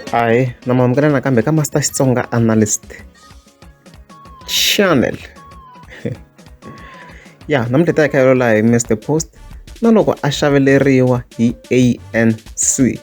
Hi, namamukela nakambe ka Master Xitsonga Analyst Channel. ya namuntlha ta hi kha yolola hi Mr Post na loko a xaveleriwa hi ANC.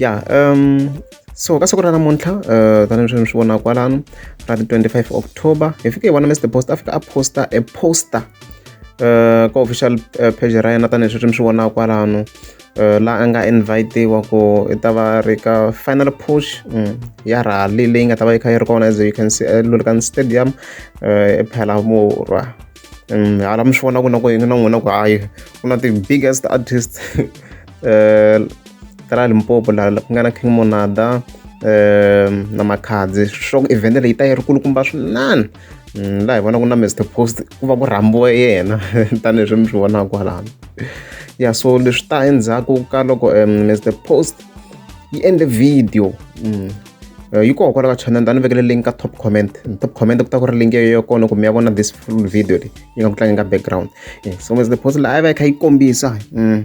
ya um so ka siku ra namuntlha uh, tanihi swi mi swi vonaka kwalano ra ti 25 october hi fike hi vona mr post a fika a posta a poster eh, ka official eh, page ra yena tanihileswi sweswi mi swi vonaka kwalano eh, la a nga invitiwa ku i ta va ri ka final push mm, ya rally leyi nga ta va yi kha yi ri kona as you can see elulkan stadium ephela murwa mm, hala mi swi vona ku na ku yingi na n'wina ku hayi ku na ti-biggest artist um ta la limpopo la ku nga na king monada um na makhadzi swa ku evhende leyi ta yi ri kulukumba swinene mm, laha hi vona ku na Mr Post ku va ku rhambiwe yena tanihileswi mi swi vonaka kwalano ya so leswi ta endzhaku ka loko um, Mr Post yi endle video mm. Eh, yi koho kwala ka channel ta ni vekele link ka top comment top comment ku ta ku ri link yo kona ku mi ya vona this full video leyi yi nga ku tlangeni ka background eh, so as the post laha yi va yi kha yi kombisa mm.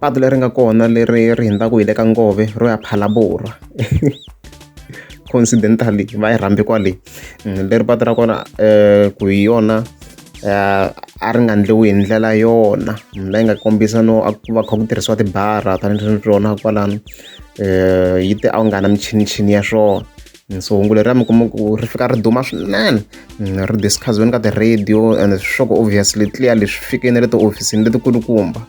patu leri nga kona leri ri hundzaka hi le ka ngove ro ya phalaborwa coincidentally va yi rhambi kwale mm, leri patu ra kona um ku hi yona um a ri nga ndliwi hi ndlela yona mm, leyi nga kombisa no a ku va kha ku tirhisiwa tibara tanihi rona kwalano um yi te a wu nga na michinichini ya swona so hungu leriya mi kuma ku ri fika ri duma swinene mm, ri discussiweni ka ti-radio and swa ku obviously clearly swi fikeni le tihofisini letikulukumba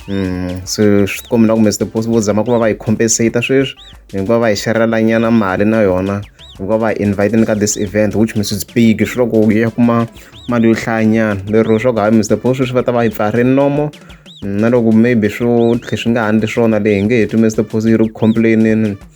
Mm, so swi kombela kumbe swi vo zama ku va va yi compensate sweswi hikuva va hi xerhelanyana mali na yona hikuva va inviteni ka this event which means it's big swi loko yi ya kuma mali yo hlayanyana lero swa ku hayi mr bo sweswi va ta va yi pfari nomo na loko maybe swo tlhe swi nga handli swona leyi hi nge heti mr pos yi ri ku complainini